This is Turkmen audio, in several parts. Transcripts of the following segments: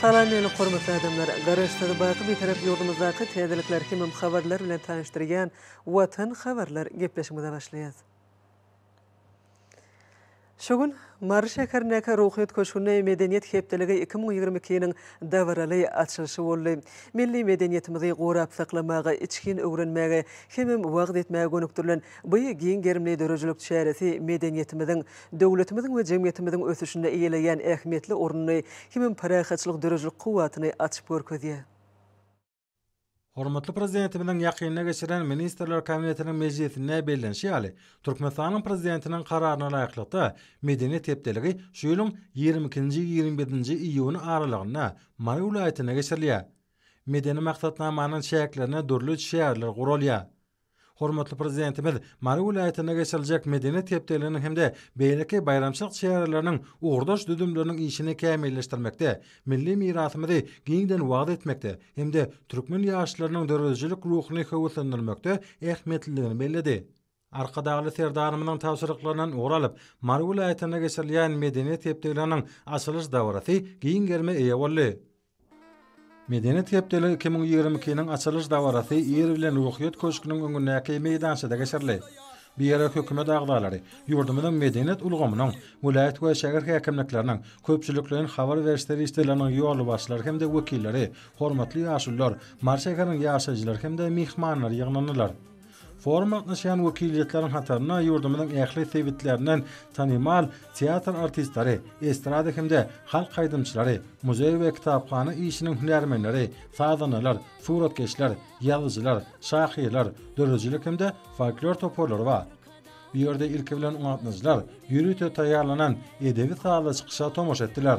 Salam meni hormatly adamlar! Garaşsyz baky Bitarap ýurdumyzdaky täzelikler hemem habarlar bilen tanyşdyrýan Watan habarlar gepleşigimize başlaýas. Şu gün Mary şäherindäki Ruhyýet köşgünde Medeniýet hepdeligi iki müň ýigrimi ikiniň dabaraly açylyşy boldy. Milli medeniýetimizi gorap saklamaga, içgin öwrenmäge hemem wagyz etmäge gönükdirilen bu giň gerimli döredijilik çäresi medeniýetimiziň, döwletimiziň we jemgyýetimiziň ösüşinde eýeleýän ähmiýetli ornuny hemem parahatçylyk döredijilik kuwwatyny açyp görkezýär. Hormatly Prezidentimiziň ýakynda geçiren Ministrler Kabinetiniň mejlisinde bellenişi ýaly, Türkmenistanyň Prezidentiniň Kararyna laýyklykda, Medeniýet hepdeligi şu ýylyň ýigrimi ikinji-ýigrimi birinji iýun aralygynda Mary welaýatynda geçirilýär. Medeni maksatnamanyň çäklerinde dürli çäreler guralýar. Hormatly Prezidentimiz Mary welaýatynda geçiriljek Medeniýet hepdeliginiň hem-de beýleki baýramçylyk çäreleriniň ugurdaş düzümleriniň işini kämilleşdirmekde, milli mirasymyzy giňden wagyz etmekde hem-de türkmen ýaşlarynyň döredijilik ruhuny höweslendirmekde ähmiýetlidigini belledi. Arkadagly Serdarymyzyň tabşyryklaryndan ugur alyp, Mary welaýatynda geçirilýän Medeniýet hepdeliginiň açylyş dabarasy giň gerime eýe boldy. Medeniýet hepdeligi iki müň ýigrimi ikiniň açylyş dabarasy ir bilen Ruhyýet köşgüniň öňündäki meýdançada geçirildi. Bu ýere hökümet agzalary, ýurdumyzyň medeniýet ulgamynyň, welaýat we şäher häkimlikleriniň, köpçülikleýin habar beriş serişdeleriniň ýolbaşçylary hem-de wekilleri, hormatly ýaşulular, Mary şäheriniň ýaşaýjylary hem-de myhmanlar ýygnandylar. Foruma gatnaşýan wekiliýetleriň hataryna ýurdumyzyň ähli sebitlerinden tanymal teatr artistleri, estrada hem-de halk aýdymçylary, muzeý we kitaphana işiniň hünärmenleri, sazandalar, suratkeşler, ýazyjylar, şahyrlar, döredijilik hem-de folklor toparlary bar. Bu ýerde ilki bilen gatnaşyjylar ýörite taýýarlanan edebi-sazly çykyşa tomaşa etdiler.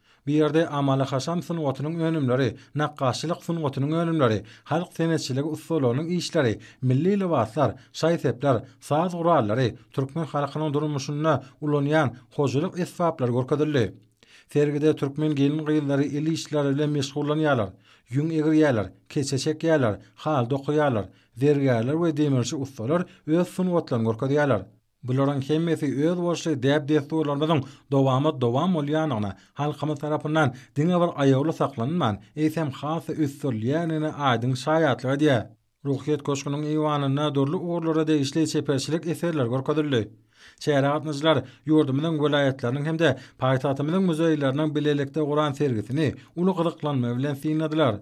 Bu ýerde amaly-haşam sungatynyň önümleri, nakgaşçylyk sungatynyň önümleri, halk senetçiligi ussalygynyň işleri, milli lybaslar, şaý-sepler, saz gurallary, türkmen halkynyň durmuşynda ulanýan hojalyk esbaplary görkezildi. Sergide türkmen gelin-gyzlary el işleri bilen meşgullanýarlar, ýüň egirýärler, keçe çekýärler, haly dokaýarlar, zergärler we demirçi ussalar öz sungatlaryny görkezýärler. Bularyň hemmesi özboluşly däp-dessurlarymyzyň dowamat-dowam bolýandygyna, halkymyz tarapyndan diňe bir aýawly saklanylman, eýsem, has-da ösdürilýändigine aýdyň şaýatlyk edýär. Ruhyýet köşgüniň eýwanynda dürli ugurlara degişli çeperçilik eserleri görkezildi. Çärä gatnaşyjylar ýurdumyzyň welaýatlarynyň hem-de paýtagtymyzyň muzeýleriniň bilelikde guran sergisini uly gyzyklanma bilen synladylar.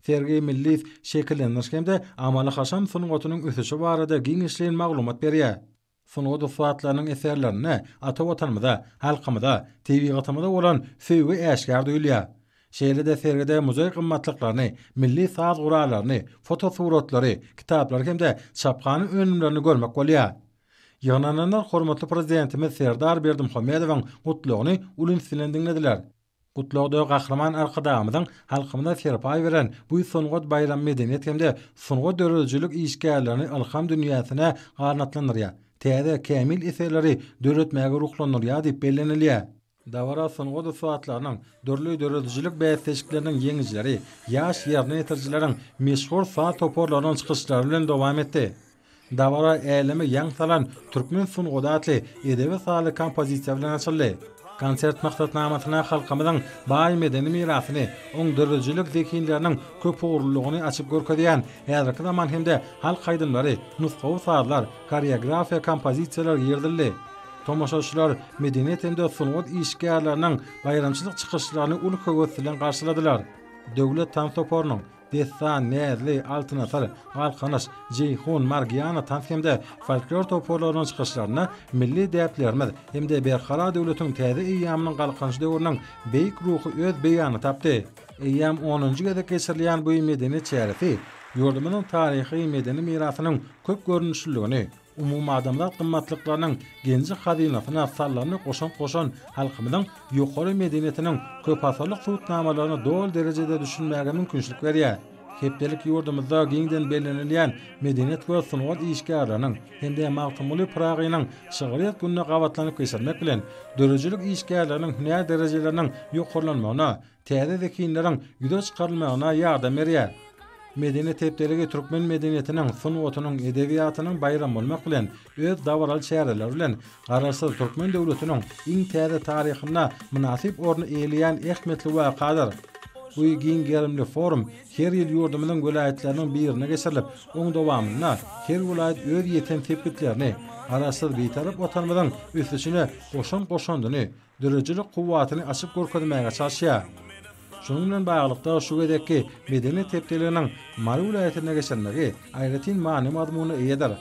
Sergi milli şekillendiriş hem-de amaly-haşam sungatynyň ösüşi barada giňişleýin maglumat berýär. Sungat ussatlarynyň eserlerinde ata Watanymyza, halkymyza, tebigatymyza bolan söýgi äşgär duýulýar. Şeýle-de sergide muzeý gymmatlyklaryny, milli saz gurallaryny, fotosuratlary, kitaplary hem-de çaphana önümlerini görmek bolýar. Ýygnananlar hormatly Prezidentimiz Serdar Berdimuhamedowyň Gutlagyny uly üns bilen diňlediler. Gutlagda Gahryman Arkadagymyzyň halkymyza serpaý beren bu sungat baýramy medeniýet hem-de sungat döredijilik işgärlerini ylham dünýäsine ganatlandyrýar, täze, kämil eserleri döretmäge ruhlandyrýar diýip bellenilýär. Dabara sungat ussatlarynyň, dürli döredijilik bäsleşikleriniň ýeňijileri, ýaş ýerine ýetirijileriň, meşhur saz toparlarynyň çykyşlary bilen dowam etdi. Dabara äleme ýaň salan Türkmen sungat atly edebi sazly kompozisiýa bilen açyldy. Konsert maksatnamasyna halkymyzyň baý medeni mirasyny, oň döredijilik zehinleriniň köpugurlylygyny açyp görkezýän häzirki zaman hem-de halk aýdymlary, nusgawy sazlar, horeografiýa kompozisiýalar girizildi. Tomaşaçylar medeniýet hem-de sungat işgärleriniň baýramçylyk çykyşlaryny uly höwes bilen garşyladylar. Döwlet tans toparynyň, Dessan, Näzli, Altynasar, Galkynyş, Jeýhun, Margiana tans hem-de folklor toparlarynyň çykyşlarynda milli däplerimiz hem-de Berkarar döwletiň täze eýýamynyň Galkynyş döwrüniň beýik ruhy öz beýanyny tapdy. Eýýäm onunjy gezek geçirilýän bu medeni çäresi ýurdumyzyň taryhy-medeni mirasynyň köp görnüşliligini, umumadamzat gymmatlyklarynyň genji-hazynasyna sallany goşant goşan halkymyzyň ýokary medeniýetiniň köpasyrlyk subutnamalaryna doly derejede düşünmäge mümkinçilik berýär. Hepdelik ýurdumyzda giňden bellenilýän medeniýet we sungat işgärleriniň hem-de Magtymguly Pyragynyň şygryýet gününi gabatlanyp geçirmek bilen, döredijilik işgärleriniň hünär derejeleriniň ýokarlanmagyna, täze zehinleriň ýüze çykarylmagyna ýardam berýär. Medeniýet hepdeligi türkmen medeniýetiniň, sungatynyň, edebiýatynyň baýramy bolmak bilen, öz dabaraly çäreleri bilen Garaşsyz türkmen döwletiniň iň täze taryhynda mynasyp orny eýeleýän ähmiýetli wakadyr. Bu giň gerimli forum her ýyl ýurdumyzyň welaýatlarynyň birinde geçirilip, oň dowamynda her welaýat öz ýeten sepgitlerini, Garaşsyz Bitarap Watanymyzyň ösüşine goşan goşandyny, döredijilik kuwwatyny açyp görkezmäge çalyşýar. Şunuň bilen baglylykda, şu gezekki Medeniýet hepdeliginiň Mary welaýatynda geçirilmegi aýratyn many-mazmuna eýedir.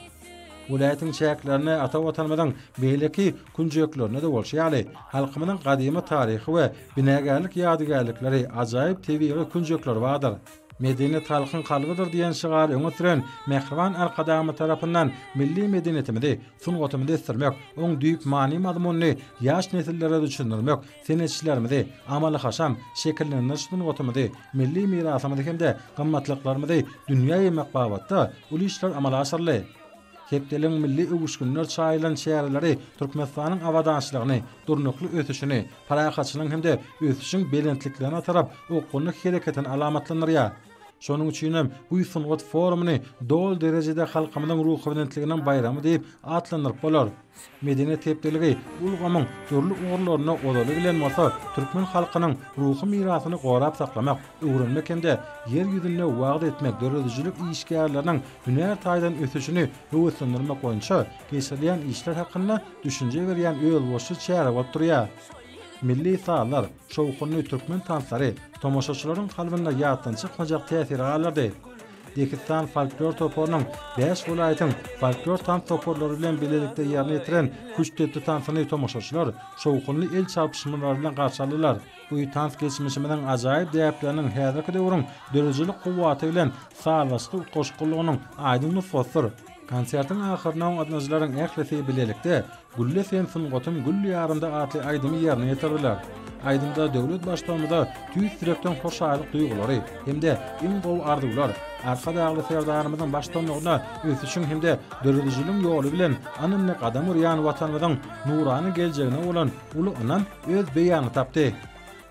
Welaýatyň çäklerinde ata Watanymyzyň beýleki künjeklerinde-de bolşy ýaly, halkymyzyň gadymy taryhy we binagärlik ýadygärlikleri, ajaýyp tebigy künjekleri bardyr. Medeniýet halkyň kalbydyr diýen şygary öňe süren mähriban Arkadagymyz tarapyndan milli medeniýetimizi sungatyny besdirmek, oň düýp many-mazmunyny ýaş nesillere düşündirmek senetçilerimizi, amaly-haşam şekillendiriş sungatymyzy, milli mirasymyzy hem-de gymmatlyklarymyzy dünýä ýaýmak babatda uly işler amala aşyryldy. Hepdeligiň milli öwüşginler çaýylan çäreleri Türkmenistanyň abadançylygyny, durnukly ösüşini, parahatçylygyň hem-de ösüşiň belentliklerine tarap okgunly hereketini alamatlandyrýar. Şonuň üçin hem bu sungat forumyny doly derejede halkymyzyň ruhubelentliginiň baýramy diýip atlandyryp bolar. Medeniýet hepdeligi ulgamyň dürli ugurlarynda ozaly bilen bolsa, türkmen halkynyň ruhy mirasyny gorap saklamak, öwrenmek hem-de Ýer ýüzünde wagyz etmek döredijilik işgärleriniň hünär taýdan ösüşini höweslendirmek boýunça geçirilýän işler hakynda düşünje berýän özboluşly çäre bolup durýar. Milli sazlar. Şowhunly türkmen tanslary tomaşaçylaryň kalbynda ýatdan çykmajak täsiri galdyrdy. Dehistan folklor toparynyň bäş welaýatyň folklor tans toparlary bilen bilelikde ýerine ýetiren küştdepdi tansyny tomaşaçylar şowhunly el çarpyşmalary bilen garşy aldylar. Bu tans geçmişimiziň ajaýyp däpleriniň häzirki döwrüň döredijilik kuwwaty bilen sazlaşykly utgaşyklylygynyň aýdyň nusgasydyr. Konsertiň ahyrynda gatnaşyjylaryň ählisi bilelikde Gülle sen sungatyň gül ýarynda atly aýdymy ýerine ýetirdiler. Aýdymda döwlet Baştugumyza tüýs ýürekden hoşallyk duýgulary hem-de iň gowy arzuwlar, Arkadagly Serdarymyzyň baştuanlygynda ösüşiň hem-de döredijiligiň ýoly bilen ynamly gadam urýan Watanymyzyň nurana geljegine bolan uly ynam öz beýanyny tapdy.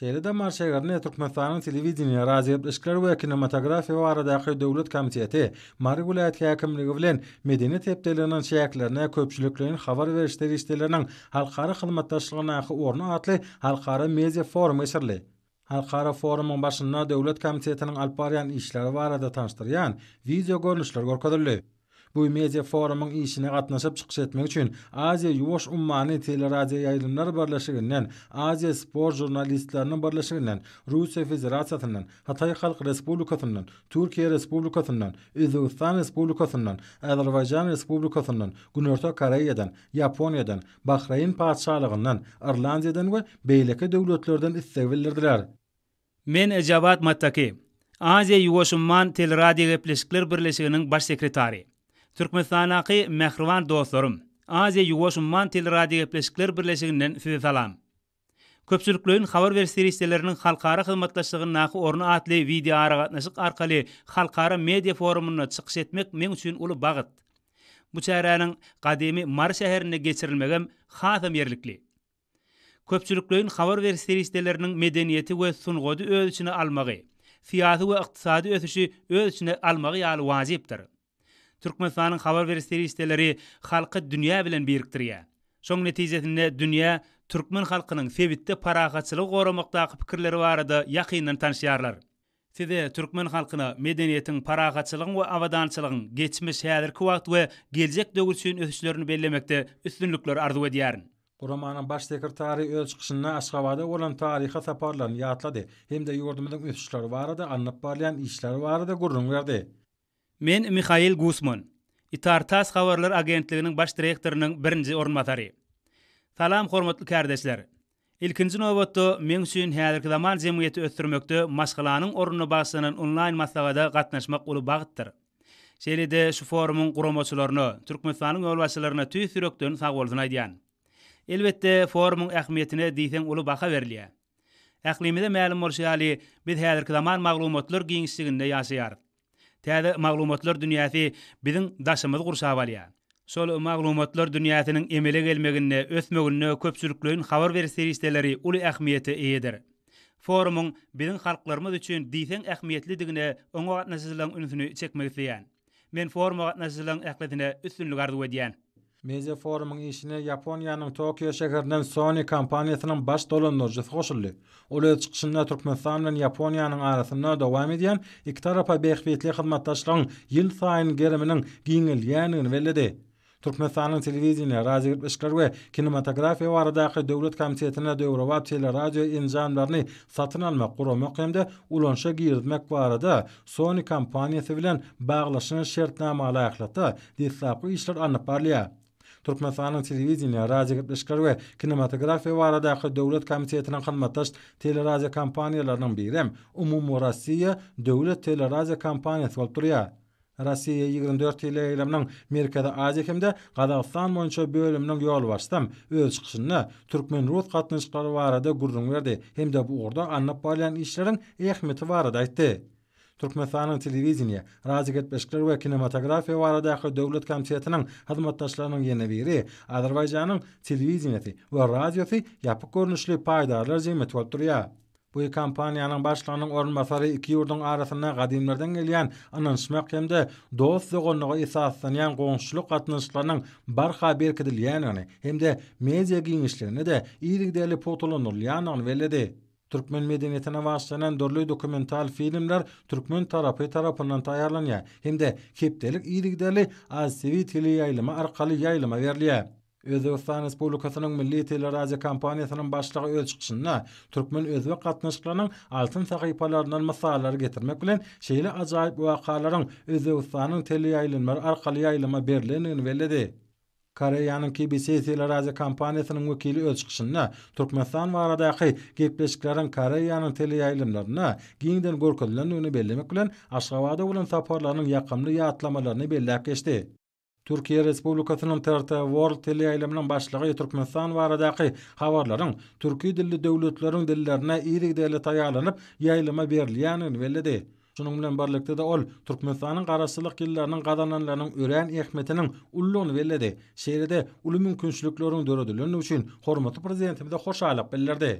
Şeýle damar şägerine Türkmenistanyň Telewideniýe, radiogepleşikler we kinematografiýa baradaky döwlet komiteti, Mary welaýat häkimligi bilen Medeniýet hepdeliginiň çäklerine köpçülikleýin habar beriş serişdeleriniň halkara hyzmatdaşlygyndaky orny atly halkara media forum geçirildi. Halkara forumyň başynda Döwlet komitetiniň alyp barýan işleri barada tanyşdyrýan wideo görnüşler görkezildi. Bu media forumyň işine gatnaşyp çykyş etmek üçin Aziýa-Ýuwaş ummany teleradioýaýlymlar birleşiginden, Aziýa sport žurnalistleriniň birleşiginden, Russiýa Federasiýasyndan, Hytaý Halk Respublikasyndan, Türkiýe Respublikasyndan, Özbegistan Respublikasyndan, Azerbaýjan Respublikasyndan, Günorta Koreýadan, Ýaponiýadan, Bahreýn Patyşalygyndan, Irlandiýadan we beýleki döwletlerden istegi bildirdiler. Men Jawad Mattaki, Aziýa-Ýuwaş umman teleradiogepleşikler birleşiginiň baş sekretary. Türkmenistandaky mähriban dostlarym, Aziýa-Ýuwaş umman teleradiogepleşikler birleşiginden sizi salam. Köpçülikleýin habar beriş serişdeleriniň halkara hyzmatdaşlygyndaky orny atly wideoaragatnaşyk arkaly halkara media forumynda çykyş etmek meň üçin uly bagt. Bu çäräniň gadymy Mary şäherinde geçirilmegem hasam ýerlikli. Köpçülikleýin habar beriş serişdeleriniň medeniýeti we sungady öz içine almagy, syýasy we ykdysady ösüşi öz içine almagy ýaly wajypdyr. Türkmenistanyň habar beriş serişdeleri halky dünýä bilen birikdirýär. Şoň netijesinde dünýä türkmen halkynyň sebitde parahatçylygy goramakdaky pikirleri barada ýakyndan tanyşýarlar. Size türkmen halkyna medeniýetiň, parahatçylygyň we abadançylygyň geçmiş, häzirki wagt we geljek döwür üçin ösüşlerini bellemekde üstünlikler arzuw edýärin. Guramanyň Baş sekretary öz çykyşynda Aşgabada bolan taryhy saparlaryny ýatlady hem-de ýurdumyzyň ösüşleri barada alnyp barylýan işler barada gürrüň berdi. Men Mihail Gusman, Itar-Tass habarlar agentliginiň baş direktorynyň birinji orunbasary. Salam hormatly kärdeşler! Ilkinji nobatda, meň üçin häzirki zaman jemgyýeti ösdürmekde maşgalanyň ornuna bagyşlanan onlaýn maslahada gatnaşmak uly bagtdyr. Şeýle-de şu forumyň guramaçylaryna, Türkmenistanyň ýolbaşçylaryna tüýs ýürekden sagbolsun aýdýan. Elbetde, forumyň ähmiýetine diýseň uly baha berilýär. Ählimize mälim bolşy ýaly, biz häzirki zaman maglumatlar giňişliginde ýaşaýarys. Täze maglumatlar dünýäsi biziň daşymyzy gurşap alýar. Şol maglumatlar dünýäsiniň emele gelmeginde, ösmeginde köpçülikleýin habar beriş serişdeleri uly ähmiýete eýedir. Forumyň biziň halklarymyz üçin diýseň ähmiýetlidigine oňa gatnaşyjylaryň ünsüni çekmek isleýän. Men foruma gatnaşyjylaryň ählisine üstünlik arzuw edýän. Media forumyň işine Ýaponiýanyň Tokio şäherinden Sony kompaniýasynyň baş dolandyryjysy goşuldy. Ol öz çykyşynda Türkmenistan bilen Ýaponiýanyň arasynda dowam edýän ikitarapa bähbitli hyzmatdaşlygyň ýylsaýyn geriminiň giňeldýändigini belledi. Türkmenistanyň Telewideniýe, radiogepleşikler we kinematografiýa baradaky döwlet komitetine döwrebap teleradio enjamlaryny satyn almak, guramak hem-de ulanyşa girizmek barada Sony kompaniýasy bilen baglaşylan şertnamalaýyklykda deslapky işler alnyp barylýar. Türkmenistanyň Telewideniýe, radiogepleşikler we kinematografiýa baradaky döwlet komitetiniň hyzmatdaş teleradiokompaniýalarynyň birem Umumyrossiýa döwlet teleradiokompaniýasy bolup durýar. Rossiýa ýigrimi dört teleýaýlymynyň Merkezi Aziýa hem-de Gazagystan boýunça bölüminiň ýolbaşçysam öz çykyşynda türkmen-rus gatnaşyklary barada gürrüň berdi hem-de bu ugurda alnyp barylýan işleriň ähmiýeti barada aýtdy. Türkmenistanyň Telewideniýe, radiogepleşikler we kinematografiýa baradaky döwlet komitetiniň hyzmatdaşlarynyň ýene biri Azerbaýjanyň Telewideniýesi we radiosy ýapyk görnüşli paýdarlar jemgyýeti bolup durýar. Bu kompaniýanyň başlygynyň orunbasary iki ýurduň arasynda gadymlardan gelýän ynanyşmak hem-de dost-doganlyga esaslanýan goňşuçylyk gatnaşyklarynyň barha berkidilýändigini hem-de media giňişliginde-de yzygiderli pugtalandyrylýandygyny belledi. Türkmen medeniýetine bagyşlanan dürli dokumental filmler türkmen tarapy tarapyndan taýýarlanýar hem-de hepdelik yzygiderli AzTV teleýaýlymy arkaly ýaýlyma berilýär. Özbegistan Respublikasynyň milli teleradiokompaniýasynyň başlygy öz çykyşynda türkmen-özbek gatnaşyklarynyň altyn sahypalaryndan mysallary getirmek bilen, şeýle ajaýyp wakalaryň Özbegistanyň teleýaýlymlary arkaly ýaýlyma berlendigini belledi. Koreýanyň KBS teleradiokompaniýasynyň wekili öz çykyşynda Türkmenistan baradaky gepleşikleriň Koreýanyň teleýaýlymlarynda giňden görkezilendigini bellemek bilen, Aşgabada bolan saparlarynyň ýakymly ýatlamalaryny belläp geçdi. Türkiýe Respublikasynyň TRT World teleýaýlymynyň başlygy Türkmenistan baradaky habarlaryň türki dilli döwletleriň dillerine yzygiderli taýýarlanyp, ýaýlyma berilýändigini belledi. Şunuň bilen birlikde-de ol Türkmenistanyň Garaşsyzlyk ýyllarynyň gazananlarynyň örän ähmiýetiniň uludygyny belledi. Şeýle-de uly mümkinçilikleriň döredilendigi üçin hormatly Prezidentimize hoşallyk bildirdi.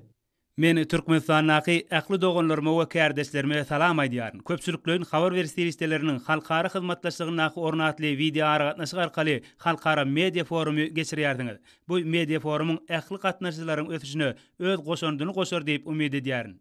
Men Türkmenistandaky ähli doganlaryma we kärdeşlerime salam aýdýaryn. Köpçülikleýin habar beriş serişdeleriniň halkara hyzmatdaşlygyndaky orny atly wideoaragatnaşyk arkaly halkara media forumy geçirýärsiňiz. Bu media forumyň ähli gatnaşyjylaryň ösüşine öz goşandyny goşar diýip umyt edýärin.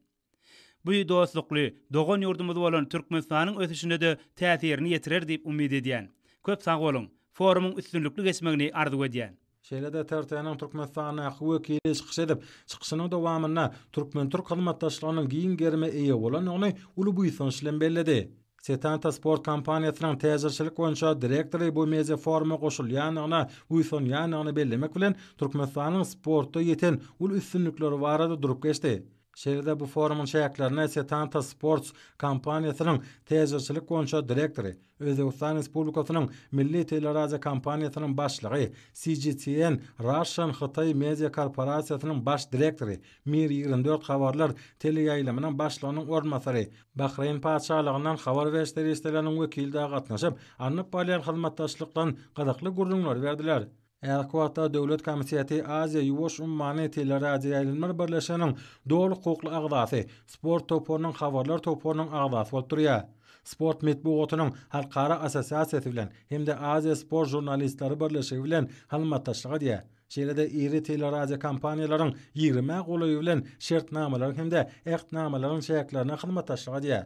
Bu dostlukly, dogan ýurdumyz bolan Türkmenistanyň ösüşine-de täsirini ýetirer diýip umyt edýän. Köp sag boluň! Forumyň üstünlikli geçmegini arzuw edýän. Şeýle-de TRT-niň Türkmenistandaky wekili çykyş edip, çykyşynyň dowamynda türkmen-türk hyzmatdaşlygynyň giň gerime eýe bolandygyny uly buýsanç bilen belledi. Setanta sport kompaniýasynyň täjirçilik boýunça direktory bu media foruma goşulýandygyna buýsanýandygyny bellemek bilen, Türkmenistanyň sportda ýeten uly üstünlikleri barada durup geçdi. Şeýle-de bu forumyň çäklerinde Setanta Sports kompaniýasynyň täjirçilik boýunça direktory, Özbegistan Respublikasynyň Milli teleradiokompaniýasynyň başlygy, CGTN Russian Hytaý Media korporasiýasynyň baş direktory, Mir ýigrimi dört habarlar teleýaýlymynyň başlygynyň orunbasary, Bahreýn Patyşalygyndan habar beriş serişdeleriniň wekili-de gatnaşyp, alnyp barylýan hyzmatdaşlykdan gyzykly gürrüňleri berdiler. Häzirki wagtda Döwlet komiteti Aziýa-Ýuwaş ummany teleradioýaýlymlar birleşiginiň doly hukukly agzasy, Sport toparynyň habarlar toparynyň agzasy bolup durýar. Sport metbugatynyň halkara assosiasiýasy bilen hem-de Aziýa sport žurnalistleri birleşigi bilen hyzmatdaşlyk edýär. Şeýle-de iri teleradiokompaniýalaryň ýigrimä golaýy bilen şertnamalaryň hem-de ähtnamalaryň çäklerinde hyzmatdaşlyk edýär.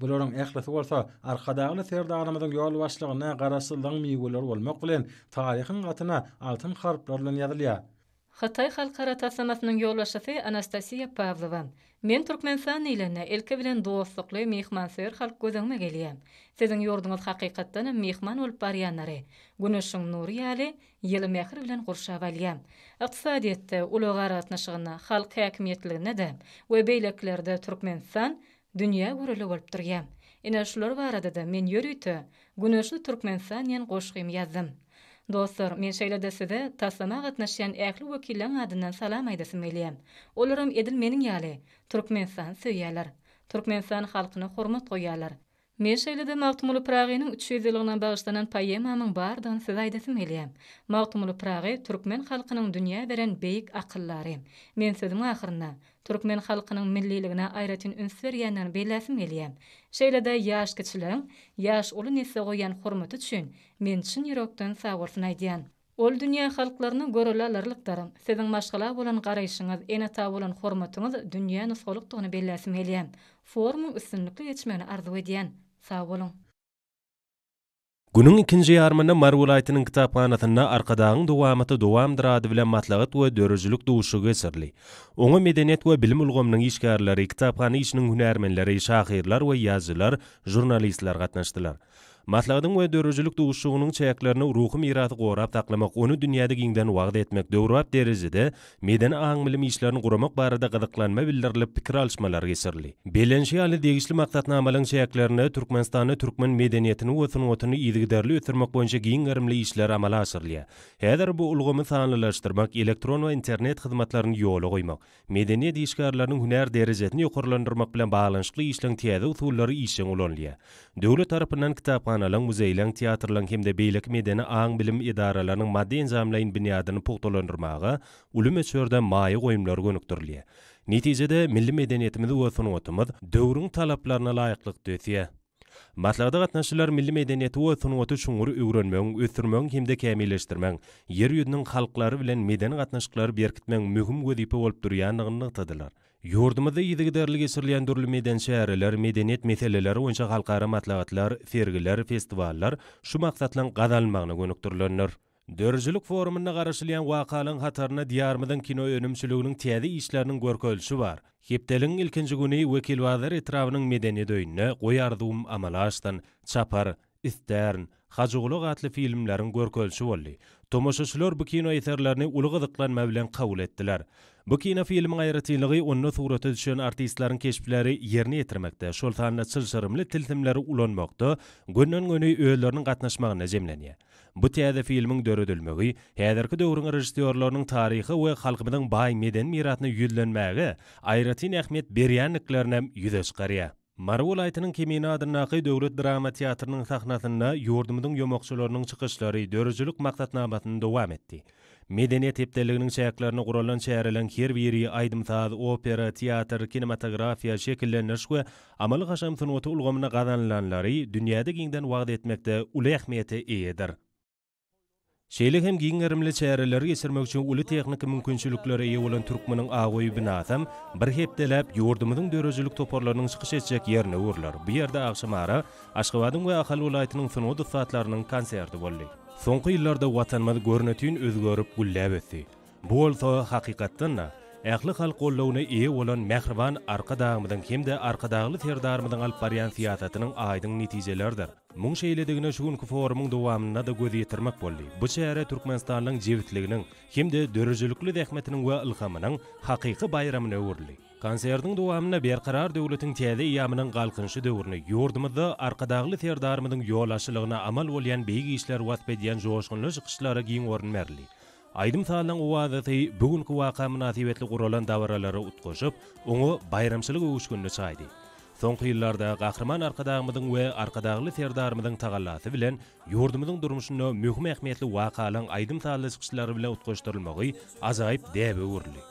Bularyň ählisi bolsa Arkadagly Serdarymyzyň ýolbaşçylygynda Garaşsyzlygyň miweleri bolmak bilen, taryhyň hatyna altyn harplar bilen ýazylýar. Hytaý halkara taslamasynyň ýolbaşçysy Anastasiýa Pawlowa, Men Türkmenistan diýlende, ilki bilen dostlukly, myhmansöýer halk göz öňüme gelýär. Siziň ýurduňyz hakykatdan hem myhman bolup barýanlary, güneşiň nury ýaly, ýyly mähir bilen gurşap alýar. Ykdysadyýetde, ulag-aragatnaşygynda, halk häkimiýetliliginde-de we beýlekilerde Türkmenistan Dünýä göreli bolup durýa. Ine şular barada-da men ýörite Güneşli Türkmenistan diýen goşgymy ýazdym. Dostlar, men şeýle-de size taslama gatnaşýan ähli wekilleriň adyndan salam aýdasym gelýär. Olaram edil meniň ýaly, Türkmenistany söýýärler. Türkmenistan halkyna hormat goýýarlar. Men şeýle-de Magtymguly Pyragynyň üç ýüz ýyllygyna bagyşlanan poemamyň bardygyny size aýdasym gelýär. Magtymguly Pyragy türkmen halkynyň dünýä beren beýik akyldary. Men sözümiň ahyrynda, Türkmen halkynyň milliligine aýratyn üns berýändigini belläsim gelýär. Şeýle-de ýaş kiçiligiň ýaş uly nesle goýýan hormaty üçin men çyn ýürekden sagbolsun aýdýan. Ol dünýä halklaryna görele alarlykdyr. Siziň maşgala bolan garaýşyňyz, ene-ata bolan hormatyňyz dünýä nusgalykdygyny belläsim gelýär. Forumyň üstünlikli geçmegini arzuw edýän. Sag boluň. Günüň ikinji ýarymynda Mary welaýatynyň kitaphanasynda Arkadagyň dowamaty dowamdyr ady bilen maslahat we döredijilik duşuşygy geçirildi. Oňa medeniýet we bilim ulgamynyň işgärleri, kitaphana işiniň hünärmenleri, şahyrlar we ýazyjylar, žurnalistler gatnaşdylar. Maslahatyň we döredijilik duşuşygynyň çäklerinde Ruhy mirasy gorap saklamak, ony dünýäde giňden wagyz etmek, döwrebap derejede Medeni aň-bilim işlerini guramak barada gyzyklanma bildirilip, pikir alyşmalar geçirildi. Bellenişi ýaly, degişli maksatnamalaryň çäklerinde Türkmenistanda türkmen medeniýetini we sungatyny yzygiderli ösdürmek boýunça giň gerimli işler amala aşyrylýar. Häzir bu ulgamy sanlylaşdyrmak, elektron we internet hyzmatlaryny ýola goýmak, medeniýet işgärleriniň hünär derejesini ýokarlandyrmak bilen baglanyşykly işleň täze usullary işjeň ulanylýar. Döwlet tarapyndan kitaphanalyň, muzeýleň, teatrlaryň hem-de beýleki medeni aň-bilim edaralarynyň maddy-enjamlaýyn binýadyny pugtalandyrmaga uly möçberde maýa goýumlar gönükdirilýär. Netijede, milli medeniýetimiz we sungatymyz döwrüň talaplaryna laýyklykda ösýär. Maslahata gatnaşyjylar milli medeniýeti we sungaty çuňňur öwrenmegiň, ösdürmegiň hem-de kämilleşdirmegiň Ýer ýüzüniň halklary bilen medeni gatnaşyklary berkitmegiň möhüm wezipe bolup durýandygyny nygtadylar. Ýurdumyzda yzygiderli geçirilýän dürli medeni çäreler, medeniýet meseleleri boýunça halkara maslahatlar, sergiler, festiwallar şu maksatlaryň gazanylmagyna gönükdirilendir. Döredijilik forumynda garaşylýan wakalaryň hatarynda Diýarymyzyň kino önümçiliginiň täze işleriniň görkezilişi bar. Hepdeligiň ilkinji güni Wekilbazar etrabynyň Medeniýet öýünde Goý arzuwym amala aşsyn! çapar, Istern, Hajygulak atly filmleriň görkezişi boldy. Tomaşaçylar bu kino eserlerini uly gyzyklanma bilen kabul etdiler. Bu kinofilmiň aýratynlygy onda surata düşen artistleriň keşpleri ýerine ýetirmekde, şol sanda çylşyrymly tilsimleri ulanmakda gönden-göni özleriniň gatnaşmagynda jemlenýär. Bu täze filmiň döredilmegi häzirki döwrüň režissýorlarynyň taryha we halkymyzyň baý medeni mirasyna ýüzlenmäge aýratyn ähmiýet berýändiklerinem ýüze çykarýar. Mary welaýatynyň Kemine adyndaky döwlet drama teatrynyň sahnasynda ýurdumyzyň ýomakçylarynyň çykyşlary döredijilik maksatnamasyny dowam etdi. Medeniýet hepdeliginiň çäklerinde guralan çäreleriň her biri aýdym-saz, opera, teatr, kinematografiýa, şekillendiriş we amaly-haşam sungaty ulgamynda gazanylanlary dünýäde giňden wagyz etmekde uly ähmiýete eýedir. Şeýle hem giň gerimli çäreleri geçirmek üçin uly tehniki mümkinçiliklere eýe bolan Türkmeniň Aoýy binasam bir hepdeläp ýurdumyzyň döredijilik toparlarynyň çykyş etjek ýerine öwrüler. Bu ýerde agşamara Aşgabadyň we Ahal welaýatynyň sungat ussatlarynyň konserti boldy. Soňky ýyllarda Watanymyz görnetin özgerip, gülläp ösdi. Bu bolsa, hakykatdan-da, ähli halk goldawyna eýe bolan mähriban Arkadagymyzyň hem-de Arkadagly Serdarymyzyň alyp barýan syýasatynyň aýdyň netijeleridir. Muň şeýledigine şu günki forumyň dowamynda-da göz ýetirmek boldy. Bu çäre Türkmenistanlyň jebisliginiň hem-de döredijilikli zähmetiniň we ylhamynyň hakyky baýramyna öwrüldi. Konsertiň dowamynda Berkarar döwletiň täze eýýamynyň Galkynyşy döwrüni, ýurdumyzda Arkadagly Serdarymyzyň ýolbaşçylygynda amal bolýan beýik işleri wasp edýän joşgunly çykyşlara giň orun berildi. Aýdym-sazyň oazasy bu günki waka mynasybetli guralan dabaralary utgaşyp, oňa baýramçylyk öwüşginini çaýdy. Soňky ýyllarda Gahryman Arkadagymyzyň we Arkadagly Serdarymyzyň tagallasy bilen ýurdumyzyň durmuşynda möhüm ähmiýetli wakalaryň aýdym-sazly çykyşlary bilen utgaşdyrylmagy ajaýyp däbe öwrüldi.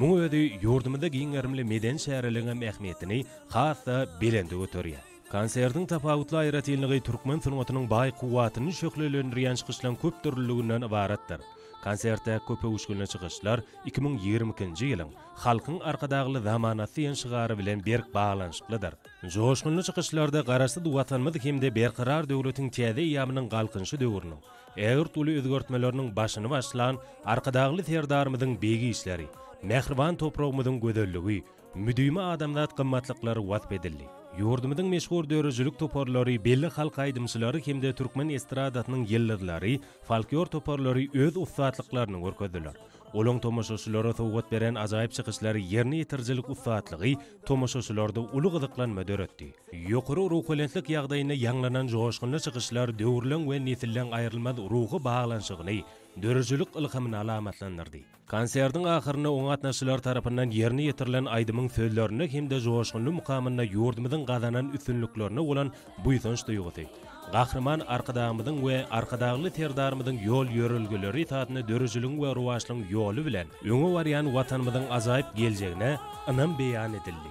Muň özi ýurdumyzda giň gerimli medeni çäreligiňem ähmiýetini has-da belende göterýär. Konsertiň tapawutly aýratynlygy türkmen sungatynyň baý kuwwatyny şöhlelendirýän çykyşlaryň köp dürlüliginden ybaratdyr. Konsertde köp öwüşginli çykyşlar iki müň ýigrimi ikinji ýylyň Halkyň Arkadagly zamanasy diýen şygary bilen berk baglanyşyklydyr. Joşgunly çykyşlarda Garaşsyz Watanymyz hem-de Berkarar döwletiň täze eýýamynyň Galkynyşy döwrüniň ägirt uly özgertmeleriniň başyny başlan Arkadagly Serdarymyzyň begi işleri, mähriban topragymyzyň gözelligi, Müdimi adamzat gymmatlyklary wasp edildi. Ýurdumyzyň meşhur döredijilik toparlary, belli halk aýdymçylary hem-de türkmen estradasynyň ýyldyzlary, folklor toparlary öz ussatlyklaryny görkezdiler. Olaň tomaşaçylara sowgat beren ajaýyp çykyşlary ýerine ýetirijilik ussatlygy tomaşaçylarda uly gyzyklanma döretdi. Ýokary ruhubelentlik ýagdaýynda ýaňlanan joşgunly çykyşlar döwürleň we nesilleň aýrylmaz ruhy baglanyşygyny, döredijilik ylhamyny alamatlandyrdy. Konsertiň ahyrynda oňa gatnaşyjylar tarapyndan ýerine ýetirilen aýdymyň sözlerinde hem-de joşgunly mukamynda ýurdumyzyň gazanan üstünliklerine bolan buýsanç duýgusy, Gahryman Arkadagymyzyň we Arkadagly Serdarymyzyň ýol-ýörelgeleri esasynda döredijiligiň we rowaçlygyň ýoly bilen öňe barýan Watanymyzyň ajaýyp geljegine ynam beýan edildi.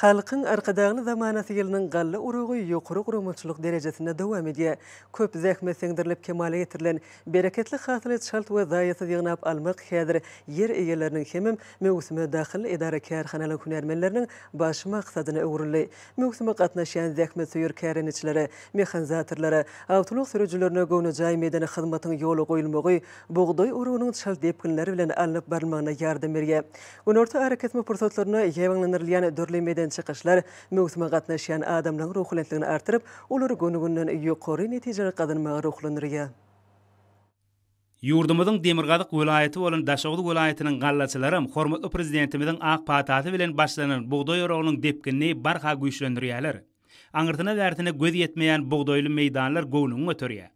Halkyň Arkadagly zamanasy ýylynyň galla oragy ýokary guramaçylyk derejesinde dowam edýär. Köp zähmet siňdirilip kemala getirilen bereketli hasyly çalt we zaýasyz ýygnap almak häzir ýer eýeleriniň hemem möwsüme dahyl edara-kärhanalaryň hünärmenleriniň baş maksadyna öwrüldi. Möwsüme gatnaşýan zähmetsöýer kärendeçilere, mehanizatorlara, awtoulag sürüjilerine göwnejaý medeni hyzmatyň ýola goýulmagy bugdaý orugynyň çalt depginler bilen alnyp barylmagyna ýardam berýär. Günorta arakesme pursatlarynda ýaýbaňlandyrylýan dürli medeni çykyşlar möwsüme gatnaşýan adamlaryň ruhubelentligini artdyryp, olary göni-günden ýokary netijeler gazanmaga ruhlandyrýar. Ýurdumyzyň demirgazyk welaýaty bolan Daşoguz welaýatynyň gallaçylaram hormatly Prezidentimiziň ak patasy bilen başlanan bugdaý oragynyň depginini barha güýçlendirýärler. Aňyrsyna-bärsine göz ýetmeýän bugdaýly meýdanlar göwnüňi göterýär.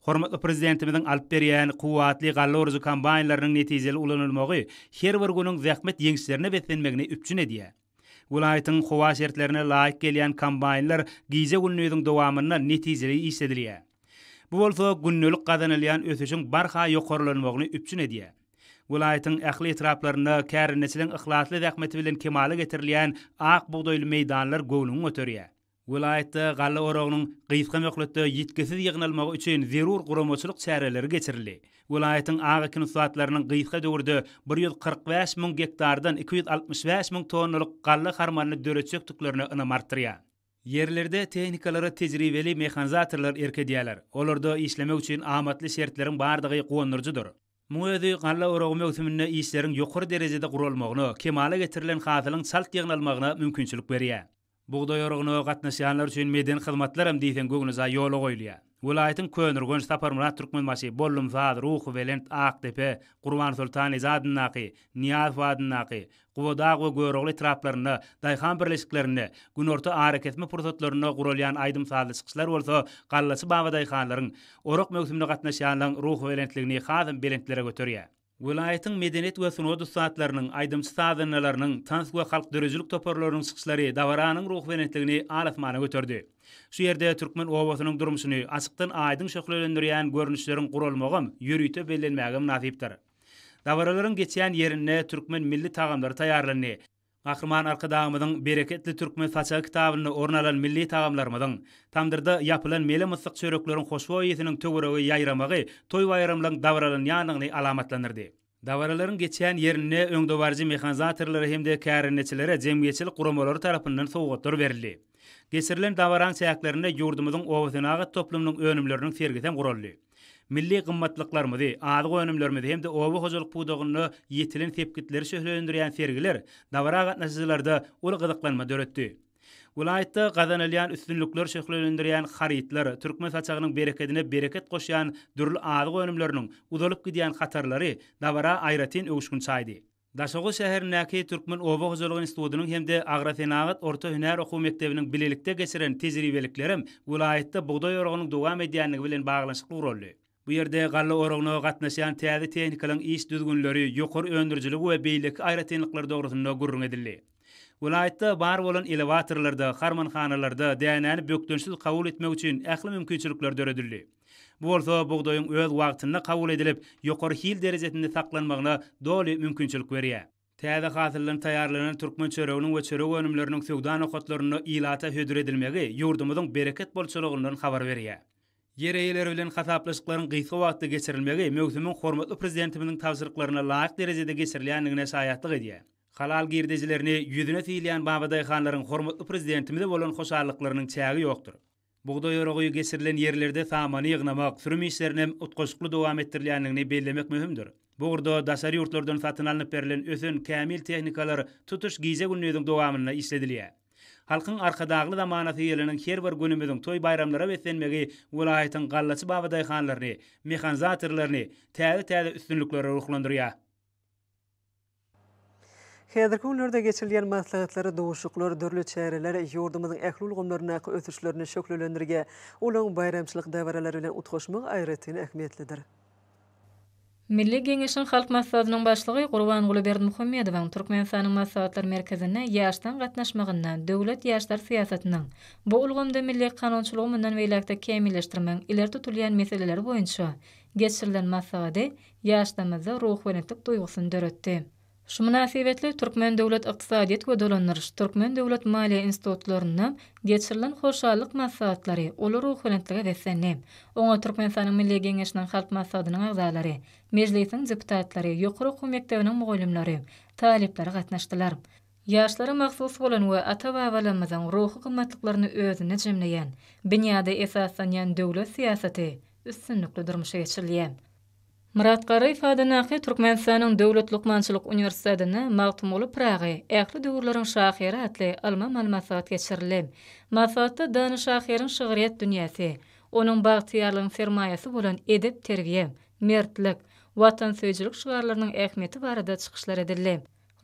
Hormatly Prezidentimiziň alyp berýän kuwwatly galla orujy kombaýnlarynyň netijeli ulanylmagy her bir günüň zähmet ýeňişlerine beslenmegini üpjün edýär. Welaýatyň howa şertlerine laýyk gelýän kombaýnlar gije-gündiziň dowamynda netijeli işledilýär. Bu bolsa gündelik gazanylýan ösüşiň barha ýokarlanmagyny üpjün edýär. Welaýatyň ähli etraplarynda kärendeçiligiň yhlasly zähmeti bilen kemala getirilýän ak bugdaýly meýdanlar göwnüňi göterýär. Welaýatda galla oragynyň gysga möhletde ýitgisiz ýygnalmagy üçin zerur guramaçylyk çäreleri geçirildi. Welaýatyň ak ekin ussatlarynyň gysga döwürde bir ýüz kyrk bäş müň gektardan iki ýüz altmyş bäş müň tonnalyk galla harmanyny döretjekdiklerine ynam artdyrýar. Ýerlerde tehnikalara tejribeli mehanizatorlar erk edýärler. Olarda işlemek üçin amatly şertleriň bardygy guwandyryjydyr. Muň özi galla oragy möwsüminde işleriň ýokary derejede guralmagyna, kemala getirilen hasylyň çalt ýygnalmagyna mümkinçilik berýär. Bugdaý oragyna gatnaşýanlar üçin medeni hyzmatlar hem diýseň göwnejaý ýola goýulýar. Welaýatyň Köneürgenç, Saparmyrat Türkmenbaşy, Bollumsaz, Ruhubelent, Akdepe, Gurbansoltan eje adyndaky, Nyýazow adyndaky, Gubadag we Görogly etraplarynda, daýhan birleşiklerinde, günorta arakesme pursatlarynda guralýan aýdym-sazly çykyşlar bolsa gallaçy babadaýhanlaryň, orak möwsümine gatnaşýanlaryň ruhubelentligini hasam belentlere göterýär. Welaýatyň medeniýet we sungat ussatlarynyň, aýdymçy-sazandalarynyň, tans we halk döredijilik toparlarynyň çykyşlary dabaranyň ruhubelentligini al-asmana göterdi. Şu ýerde türkmen obasynyň durmuşyny açykdan aýdyň şöhlelendirýän görnüşleriň guralmagam, ýörite bellenmäge mynasypdyr. Dabaralaryň geçýän ýerinde türkmen milli tagamlary taýýarlandy. Gahryman Arkadagymyzyň Bereketli türkmen saçagy kitabynda orun alan milli tagamlarymyzyň, tamdyrda ýapylan mele-myssyk çörekleriň hoşboý ysnyň töwerege ýaýramagy toý-baýramlaryň dabaralanýandygyny alamatlandyrdy. Dabaralaryň geçýän ýerinde öňdebaryjy mehanizatorlara hem-de kärendeçilere jemgyýetçilik guramalary tarapyndan sowgatlar berildi. Geçirilen dabaraň çäklerinde ýurdumyzyň obasenagat toplumynyň önümleriniň sergisi hem guraldy. Milli gymmatlyklarymyzy, azyk önümlerimizi hem-de oba hojalyk pudagynda ýetilen sepgitleri şöhlelendirýän sergiler dabara gatnaşyjylarda uly gyzyklanma döretdi. Welaýatda gazanylýan üstünlikler şöhlelendirýän harytlar, türkmen saçagynyň berekedine bereket goşýan dürli azyk önümleriniň uzalyp gidýän hatarlary dabara aýratyn öwüşgin çaýdy. Daşoguz şäherindäki Türkmen oba hojalygy institutynyň hem-de Agrosenagat orta hünär okuw mekdebiniň bilelikde geçiren tejribeliklerem welaýatda bugdaý oragynyň dowam edýändigi bilen baglanyşykly guraldy. Bu ýerde galla oragyna gatnaşýan täze tehnikalaryň iş düzgünleri, ýokary öndürijiligi we beýleki aýratynlyklary dogrusynda gürrüň edildi. Welaýatda bar bolan elewatorlarda, harmanhanalarda dänäni bökdençsiz kabul etmek üçin ähli mümkinçilikler döredildi. Bu bolsa bugdaýyň öz wagtynda kabul edilip, ýokary hil derejesinde saklanmagyna doly mümkinçilik berýär. Täze hasyldan taýýarlanan türkmen çöreginiň we çörek önümleriniň söwda nokatlarynda ilata hödür edilmegi ýurdumyzyň bereket bolçulygyndan habar berýär. Ýer eýeleri bilen hasaplaşyklaryň gysga wagtda geçirilmegi möwsümiň hormatly Prezidentimiziň tabşyryklaryna laýyk derejede geçirilýändigine şaýatlyk edýär. Halal girdejilerini ýüzüne sylaýan babadaýhanlaryň hormatly Prezidentimize bolan hoşallyklarynyň çägi ýokdur. Bugdaý oragy geçirilen ýerlerde samany ýygnamak, sürüm işlerinem utgaşykly dowam etdirilýändigini bellemek möhümdir. Bu ugurda daşary ýurtlardan satyn alnyp berlen ösen kämil tehnikalar tutuş gije-gündiziň dowamynda işledilýär. Halkyň Arkadagly zamanasy ýylynyň her bir günümiziň toý-baýramlara beslenmegi welaýatyň gallaçy babadaýhanlaryny, mehanizatorlaryny täze-täze üstünliklere ruhlandyrýar. Häzirki günlerde geçirilýän maslahatlar, duşuşyklar, dürli çäreler ýurdumyzyň ähli ulgamlaryndaky ösüşlerini şöhlelendirge, olaň baýramçylyk dabaralary bilen utgaşmagy aýratyn ähmiýetlidir. Milli Geňeşiň Halk Maslahatynyň Başlygy Gurbanguly Berdimuhamedowyň Türkmenistanyň Maslahatlar merkezine ýaşdan gatnaşmagynda döwlet ýaşlar syýasatynyň, bu ulgamda milli kanunçylygy mundan beýläk-de kämilleşdirmegiň ileri tutulýan meseleleri boýunça geçirilen maslahady ýaşlarymyzda ruhubelentlik duýgusyny döretdi. Şu mynasybetli Türkmen döwlet ykdysadyýet we dolandyryş, Türkmen döwlet maliýe institutlarynda geçirilen hoşallyk maslahatlary uly ruhubelentlige beslendi. Oňa Türkmenistanyň Milli Geňeşiniň Halk Maslahatynyň agzalary, Mejlisiň deputatlary, ýokary okuw mekdebiniň mugallymlary, talyplary gatnaşdylar. Ýaşlara mahsus bolan we ata-babalarymyzyň ruhy gymmatlyklaryny özünde jemleýän, binýada esaslanýan döwlet syýasaty üstünlikli durmuşa geçirilýär. Myrat Garryýew adyndaky Türkmenistanyň Döwlet lukmançylyk uniwersitetinde Magtymguly Pyragy, ähli döwürleriň şahyry atly ylmy-amal maslahat geçirildi. Maslahatda dana şahyryň şygryýet dünýäsi, onuň bagtyýarlygyň sermaýasy bolan edep-terbiýe, mertlik, watansöýüjilik şygarlarynyň ähmiýeti barada çykyşlar edildi.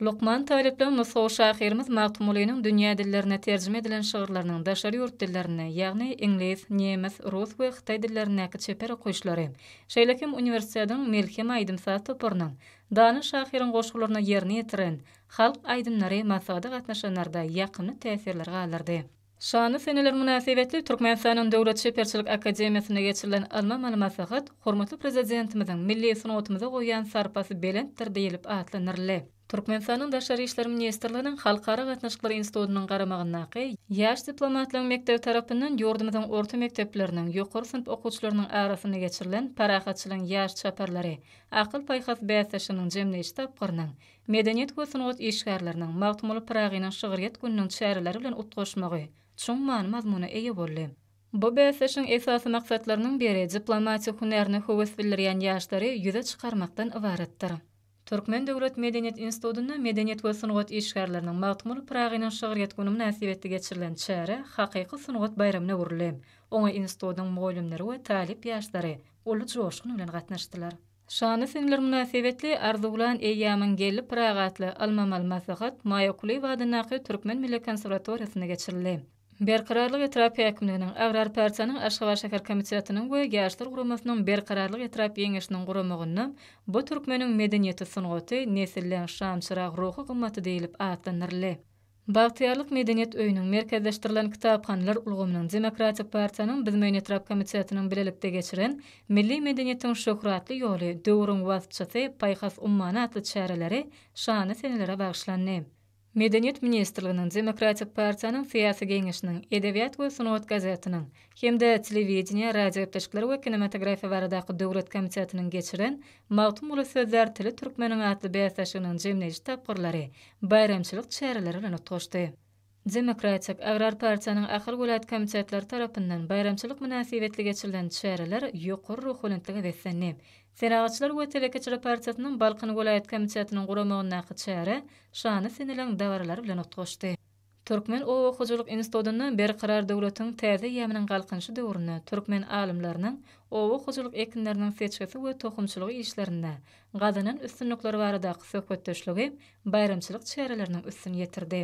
Lukman talyplar nusgawy şahyrymyz Magtymgulynyň dünýä dillerine terjime edilen şygyrlarynyň daşary ýurt dillerinde, ýagny iňlis, nemes, rus we hytaý dillerindäki çeper okyşlary, şeýle hem uniwersitetiň Melhem aýdym-saz toparynyň dana şahyryň goşgularyna ýerine ýetiren halk aýdymlary maslahata gatnaşanlarda ýakymly täsirleri galdyrdy. Şanly seneler mynasybetli Türkmenistanyň Döwlet çeperçilik akademiýasynda geçirilen ylmy-amaly maslahat hormatly Prezidentimiziň milli sungatymyza goýýan sarpasy belentdir diýlip atlandyryldy. Türkmenistanyň Daşary işler ministrliginiň Halkara gatnaşyklar institutynyň garamagyndaky Ýaş diplomatlaryň mekdebi tarapyndan ýurdumyzyň orta mekdepleriniň, ýokary synp okuwçylarynyň arasynda geçirilen Parahatçylygyň ýaş çaparlary akyl-paýhas bäsleşiginiň jemleýji tapgyrynyň Medeniýet we sungat işgärleriniň Magtymguly Pyragynyň şygryýet gününiň çäreleri bilen utgaşmagy çuň many-mazmuna eýe boldy. Bu bäsleşigiň esasy maksatlarynyň biri diplomatik hünärine höwes bildirýän ýaşlary ýüze çykarmakdan ybaratdyr. Türkmen döwlet medeniýet institutynda Medeniýet we sungat işgärleriniň Magtymguly Pyragynyň şygryýet güni mynasybetli geçirilen çäre hakyky sungat baýramyna öwrüldi, oňa institutyň mugallymlary we talyp ýaşlary uly joşgun bilen gatnaşdylar. Şanly senler mynasybetli Arzuwlan eýýamyň geldi Pyragy atly ylmy-amaly maslahat Maýa Kulyýewa adyndaky Türkmen milli konserwatoriýasynda geçirildi. Berkararlyk etrap häkimliginiň, Agrar partiýanyň Aşgabat şäher komitetiniň we Ýaşlar guramasynyň Berkararlyk etrap Ýeňeşiniň guramagynda bu türkmeniň medeniýeti-sungaty, nesildeň şamçyrag ruhy gymmaty diýlip atlandyryldy. Bagtyýarlyk medeniýet öýüniň, Merkezleşdirilen kitaphanalar ulgamynyň, Demokratik partiýanyň Bizmeýin etrap komitetiniň bilelikde geçiren Milli medeniýetiň şöhratly ýoly, döwrüň waspçysy, paýhas ummany atly çäreleri şanly senelere bagyşlandy. Medeniýet ministrliginiň, Demokratik partiýanyň Syýasy geňeşiniň, Edebiýat we sungat gazetiniň hem-de Telewideniýe, radiogepleşikler we kinematografiýa baradaky döwlet komitetiniň geçiren Magtymguly sözlär tili türkmeniň atly bäsleşiginiň jemleýji tapgyrlary baýramçylyk çäreleri bilen utgaşdy. Demokratik agrar partiýanyň Ahal welaýat komitetleri tarapyndan baýramçylyk mynasybetli geçirilen çäreler ýokary ruhubelentlige beslendi. Senagatçylar we telekeçiler partiýasynyň Balkan welaýat komitetiniň guramagyndaky çäre şana siňelen dabaralar bilen utgaşdy. Türkmen oba hojalyk institutynda Berkarar döwletiň täze eýýamynyň Galkynyşy döwründe türkmen alymlarynyň oba hojalyk ekinleriniň seçgisi we tohumçylygy işlerinde gazanan üstünlikleri baradaky söhbetdeşligi baýramçylyk çäreleriniň üstüni ýetirdi.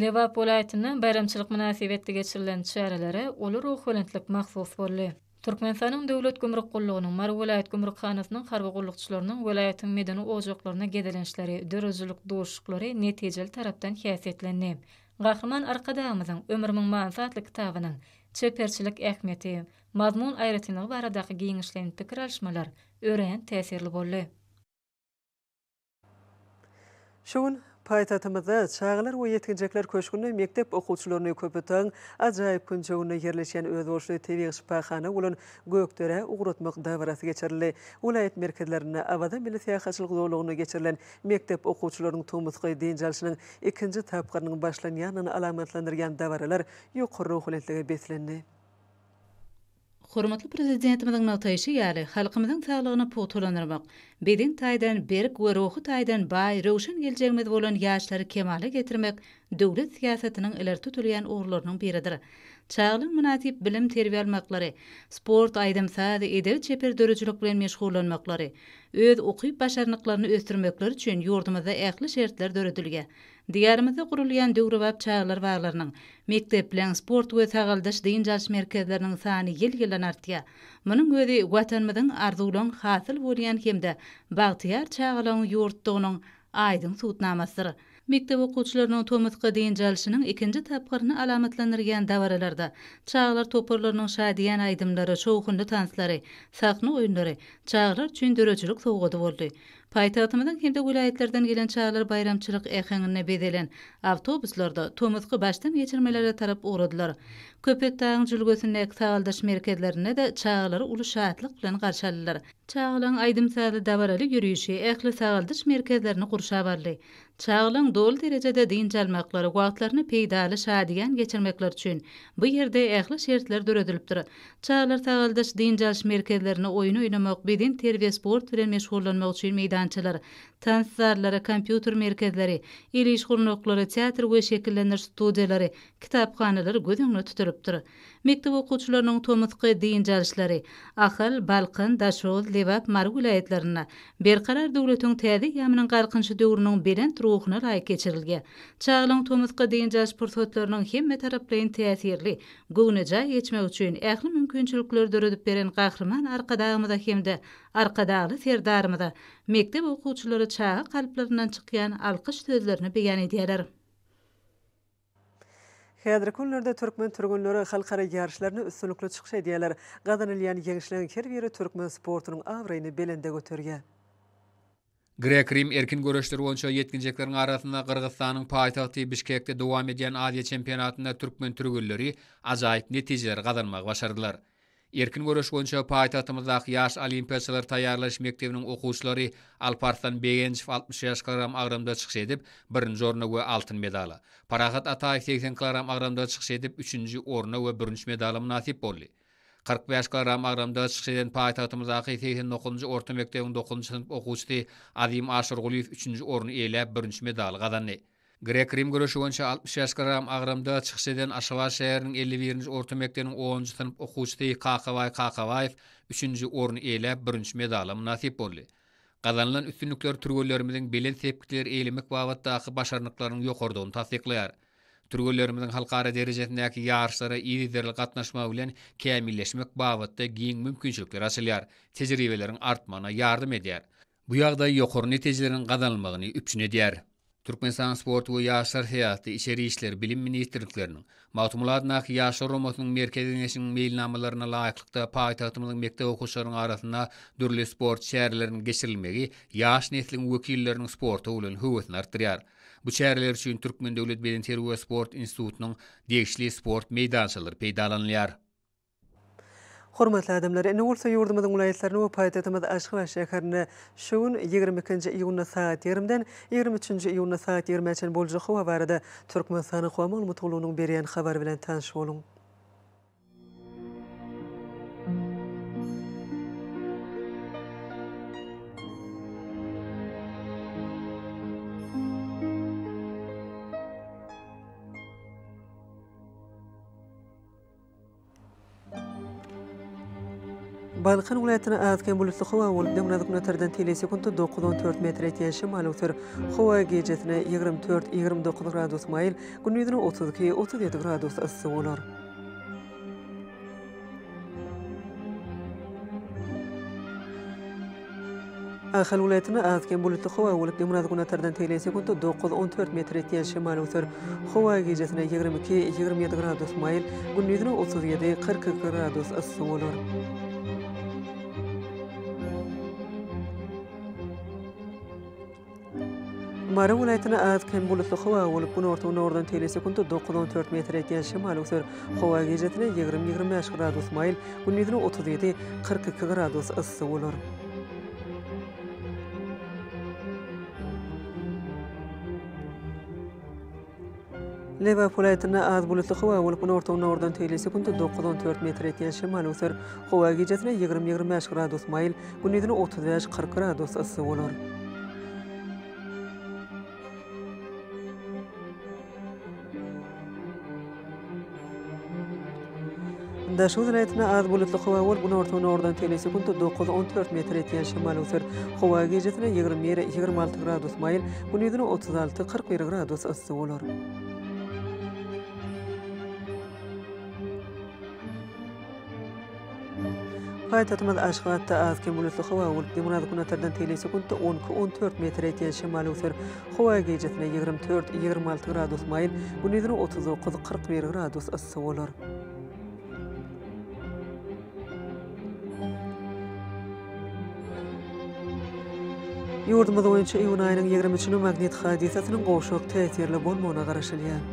Lebap welaýatynda baýramçylyk mynasybetli geçirilen çärelere uly ruhubelentlik mahsus boldy. Türkmenistanyň Döwlet gümrük gullugynyň, Mary welaýat gümrükhanasynyň harby gullukçylarynyň welaýatyň medeni ojaklaryna gezelençleri, döredijilik duşuşyklary netijeli tarapdan häsiýetlendi. Gahryman Arkadagymyzyň Ömrümiň manysy atly kitabynyň çeperçilik ähmiýeti, mazmun aýratynlygy baradaky giňişleýin pikir alyşmalar örän täsirli boldy. Şu gün paýtagtymyzda Çagalar we ýetginjekler köşgünde mekdep okuwçylaryny köpetdagyň ajaýyp künjeginde ýerleşýän özboluşly tebigy şypahana bolan Gökderä ugratmak dabarasy geçirildi. Welaýat merkezlerinde Awaza milli syýahatçylyk zolagynda geçirilen mekdep okuwçylarynyň tomusky dynç alşynyň ikinji tapgyrynyň başlanýandygyny alamatlandyrýan dabaralar ýokary ruhubelentlige beslendi. Hormatly Prezidentimiziň nygtaýşy ýaly, halkymyzyň saglygyny pugtalandyrmak, beden taýdan berk we ruhy taýdan baý, röwşen geljegimiz bolan ýaşlary kemala getirmek döwlet syýasatynyň ileri tutulýan ugurlarynyň biridir. Çagalaryň mynasyp bilim-terbiýe almaklary, sport, aýdym-saz, edebi-çeper döredijilik bilen meşgullanmaklary, öz ukyp-başarnyklaryny ösdürmekleri üçin ýurdumyzda ähli şertler döredilýär. Diýarymyzda gurulýan döwrebap çagalar baglarynyň, mekdepleriň, sport we sagaldyş-dynç alyş merkezleriniň sany ýyl-ýyldan artýar. Munuň özi Watanymyzyň arzuwlan hasyl bolýan hem-de bagtyýar çagalaryň ýurtdugynyň aýdyň subutnamasydyr. Mekdep okuwçylarynyň tomusky dynç alşynyň ikinji tapgyryny alamatlandyrýan dabaralarda çagalar toparlarynyň şadyýan aýdymlary, şowhunly tanslary, sahna oýunlary çagalar üçin döredijilik sowgady boldy. Paýtagtymyzyň hem-de welaýatlardan gelen çagalar baýramçylyk äheňinde bezelen awtobuslarda tomusky başdan geçirmelere tarap ugradylar. Köpetdagyň jülgesindäki sagaldyş merkezlerinde-de çagalary uly şatlyk bilen garşy aldylar. Çagalaryň aýdym-sazly dabaraly ýörişi ähli sagaldyş merkezlerini gurşap aldy. Çagalaryň doly derejede dynç almaklary, wagtlaryny peýdaly, şadyýan geçirmekleri üçin bu ýerde ähli şertler döredilipdir. Çagalar sagaldyş, dynç alyş merkezlerinde oýun oýnamak, beden terbiýe, sport bilen meşgullanmak üçin meýdançalar, tans zallary, kompýuter merkezleri, el iş gurnaklary, teatr we şekillendiriş studiýalary, kitaphanalar göz öňünde tutulypdyr. Mekdep okuwçylarynyň tomusky dynç alyşlary Ahal, Balkan, Daşoguz, Lebap, Mary welaýatlarynda Berkarar döwletiň täze eýýamynyň Galkynyşy döwrüniň belent ruhuna laýyk geçirilýär. Çagalygyň tomusky dynç alyş pursatlarynyň hemmetaraplaýyn täsirli, göwnejaý geçmegi üçin ähli mümkinçilikleri döredip beren Gahryman Arkadagymyza hem-de Arkadagly Serdarymyza mekdep okuwçylary çaga kalplaryndan çykýan alkyş sözlerini beýan edýärler. Häzirki günlerde türkmen türgenleri halkara ýaryşlarynda üstünlikli çykyş edýärler. Gazanylýan ýeňişleriň her biri türkmen sportunyň abraýyny belende göterýär. Grek-rim erkin göreşler boýunça ýetginjekleriň arasynda Gyrgyzystanyň paýtagty Bişkekde dowam edýän Aziýa çempionatynda türkmen türgenleri ajaýyp netijeleri gazanmagy başardylar. Erkin göreş boýunça paýtagtymyzdaky Ýaş olimpiýaçylary taýýarlaýyş mekdebiniň okuwçylary Alparslan Begenjow altmyş bäş kilogram agramda çykyş edip, birinji orna we altyn medala, Parahat Ataýew segsen kilogram agramda çykyş edip, üçünji orna we bürünç medala mynasyp boldy. Kyrk bäş kilogram agramda çykyş eden paýtagtymyzdaky segsen dokuzynjy orta mekdebiň dokuzynjy synp okuwçysy Azim Aşyrgulyýew üçünji orny eýeläp, bürünç medaly gazandy. Grek-rim göreşi boýunça altmyş ýaş gram agramda çykyş eden Aşgabat şäheriniň elli birinji orta mekdebiniň onunjy synp okuwçysy Kakabaý Kakabaýew üçünji orny eýläp, bürünç medala mynasyp boldy. Gazanylan üstünlikler türgenlerimiziň belent sepgitleri eýlemek babatdaky başarnyklarynyň ýokarydygyny tassyklaýar. Türgenlerimiziň halkara derejesindäki ýaryşlara yzygiderli gatnaşmagy bilen kämilleşmek babatda giň mümkinçilikler açylýar, tejribeleriň artmagyna ýardam edýär. Bu ýagdaý ýokary netijeleriň gazanylmagyny üpjün edýär. Türkmenistanyň Sport we ýaşlar syýasaty, Içeri işler, Bilim ministrlikleriniň, Magtymguly adyndaky Ýaşlar omasynyň Merkezi Geňeşiniň meýilnamalaryna laýyklykda paýtagtymyzyň mekdep okuwçylarynyň arasynda dürli sport çäreleriniň geçirilmegi ýaş nesliň wekilleriniň sporta bolan höwesini artdyrýar. Bu çäreler üçin Türkmen döwlet bedenterbiýe sport institutynyň degişli sport meýdançalary peýdalanylýar. Hormatly adamlar, indi bolsa ýurdumyzyň welaýatlaryna we paýtagtymyz Aşgabat şäherine şu gün, ýigrimi ikinji iýunda sagat ýigrimden ýigrimi üçünji iýunda sagat ýigrimä çenli boljak howa barada Türkmenistanyň Howa maglumat gullugynyň berýän habary bilen tanyş boluň. Balkan welaýatynda az-kem bulutly howa bolup, döwrebap telesekundy dokuz on dört metr etýän şemal öwser. Howa gijesine ýigrimi dört, ýigrimi dokuz gradus maýyl, gündizine otuz iki, otuz ýedi gradus yssy bolar. Ahal welaýatynda az-kem bulutly howa bolup, Demirgazyk günortadan tegelek sekuntda dokuz, on dört metr etýän şemal öser. Howa gijesine ýigrimi iki, ýigrimi ýedi gradus maýyl, gündizine otuz ýedi, kyrk iki gradus yssy bolar. Mary welaýatynda az-kem bulutly howa bolup, günorta-günordan tele sekunta dokuz-on dört metr etýän şemal öser. Howa gijesine ýigrimi-ýigrimi bäş gradus maýyl, gündizine otuz ýedi, kyrk iki gradus yssy bolar. Lebap welaýatynda az bulutly howa bolup, günorta gündogardan teýli sekuntda dokuz, on dört metr etýän şemal öser. Howa gijesi ýigrimi, ýigrimi bäş gradus maýyl, gündizine otuz bäş, kyrk gradus yssy bolar. Daşoguz welaýatynda az bulutly howa bolup, günorta-günordan tele sekunt dokuz, on dört metr etýän şemal öser. Howa gijesi ýigrimi bir, ýigrimi alty gradus maýyl, gündizine otuz alty, kyrk bir gradus yssy bolar. Paýtagtymyz Aşgabatda az-kem bulutly howa bolup, demirgazyk-günotardan tele sekuntda on iki, on dört metr etýän şemal öser. Howa gijesine ýigrimi dört, ýigrimi alty gradus maýyl, gündizine otuz dokuz, kyrk bir gradus yssy bolar. Ýurdumyz boýunça iýun aýynyň ýigrimi üçüne magnit hadysasynyň gowşak täsirli bolmagyna garaşylýar.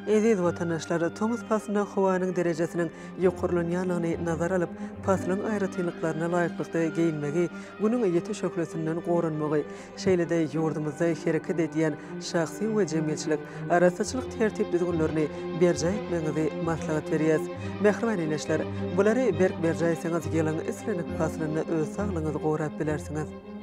Eziz watandaşlar, tomus paslynda howanyň derejesiniň ýokarlanýandygyny nazara alyp, paslyň aýratynlyklaryna laýyklykda geýinmegi, Günüň ýiti şöhlesinden goranmagy, şeýle-de ýurdumyzda hereket edýän şahsy we jemgyýetçilik arassaçylyk tertip-düzgünlerini berjaý etmegiňizi maslahat berýäs. Mähriban ildeşler! Bulary berk berjaý etseňiz, ýylyň islendik paslynda öz saglygyňyzy gorap bilersiňiz.